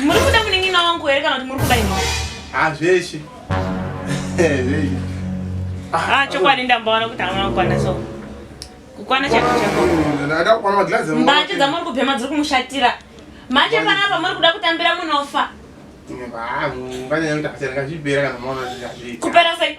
Muri kuda munin'ina wangu here kana kuti muri kuda ini? Ah, zveshe. Zveshe. Ah, chokwadi ndambaona kuti hamuna kukwana so. Kukwana chako chako. Ndada kukwana maglazi. Mbanje dzamuri kubhema dziri kumushatira. Manje panapa muri kuda kutambira munofa. Kupera sei?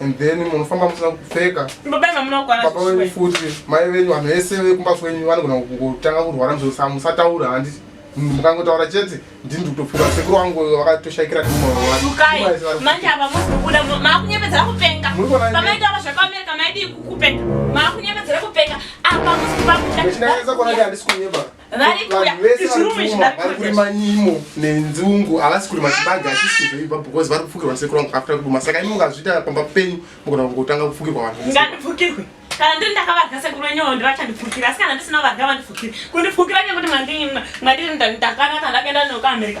and then munofamba musina kupfeka baba wenyu futi mai venyu vanhu vese vekumba kwenyu vanogona kutanga kurwara mzosa musataura handi mukangotaura chete ndini ndikutopfuka sekuru wangu vakatoshaikira ndimaaiakunyebedzera kupenga varikuyaizvirumizvinakurima nenzungu havasi kurima chibage hatisi kuzoiva because vari kufukirwa sekuru vangu after kuduma saka imi mungazviita pamba penyu mugona kungotanga kufukirwa vanhu ngandifukirwe kana ndiri ndakavarya sekuru wenyewo ndivachandifukira asi kana ndisina varya vandifukiri kundifukira nekuti mwandiri ndakanaka ndakaenda neuka america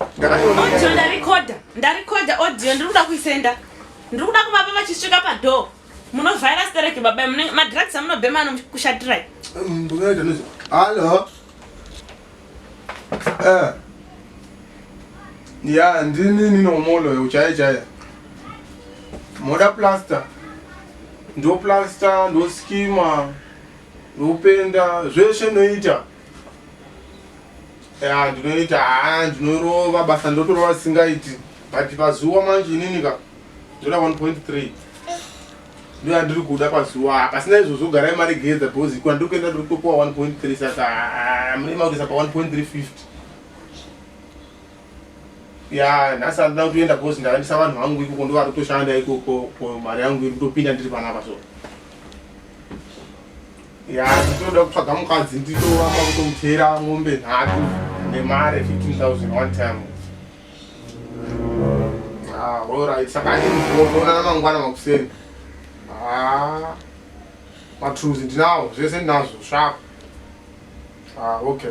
audio ndarikoda ndarikoda audio ndiri kuda kuisenda ndiri kuda kuvapa vachisvika padhoo munovhaira stereki baba madrugs amunobhema anokushatirai hallo eh. ya ndini ninomoloyo uchaya chaya moda plaster ndoplaster ndoskima ndopenda zveshe noita ya ndinoita haa ndinorova basa ndotorova singaiti but pazuva manje inini ka ndoda 1.3 ndoya ndiri kuda pazuva pasina izvozvo garai mari gedza because ikona ndiri kuenda ndiri kutopuwa 1.3 saka haa mune maurisa pa 1.350 ya nhasi andina kutoenda because ndakandisa vanhu vangu ikoko ndovari kutoshanda ikoko mari yangu iri kutopinda ndiri panapa so ya ndinoda kutsvaga mukadzi nditoamba kutomutera mombe nhatu nemari 15000 one time ah, orit saka achiona namangwana makuseni ah, matruzi ndinawo zvese ndinazvo svaku ah, okay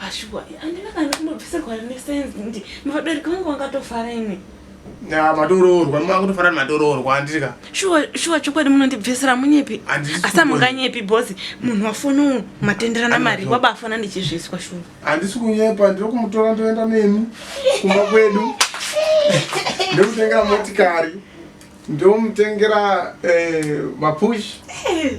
Ashuwa, ah, andina kana kumbobvisirwa nesense ndi vabereki vangu vangatofara imi. Na matoroorwa, mwa kutofara matoroorwa andiri ka. Shuwa, shuwa chokwadi munondibvisira munyepi. Asa munganyepi boss, munhu wafono matenderana mari, waba afona ndichizviswa shuwa. Andisi kunyepa, ndiri kumutora ndoenda nemi kumba kwedu. Ndokutengera motikari. Ndomutengera eh mapush. Eh.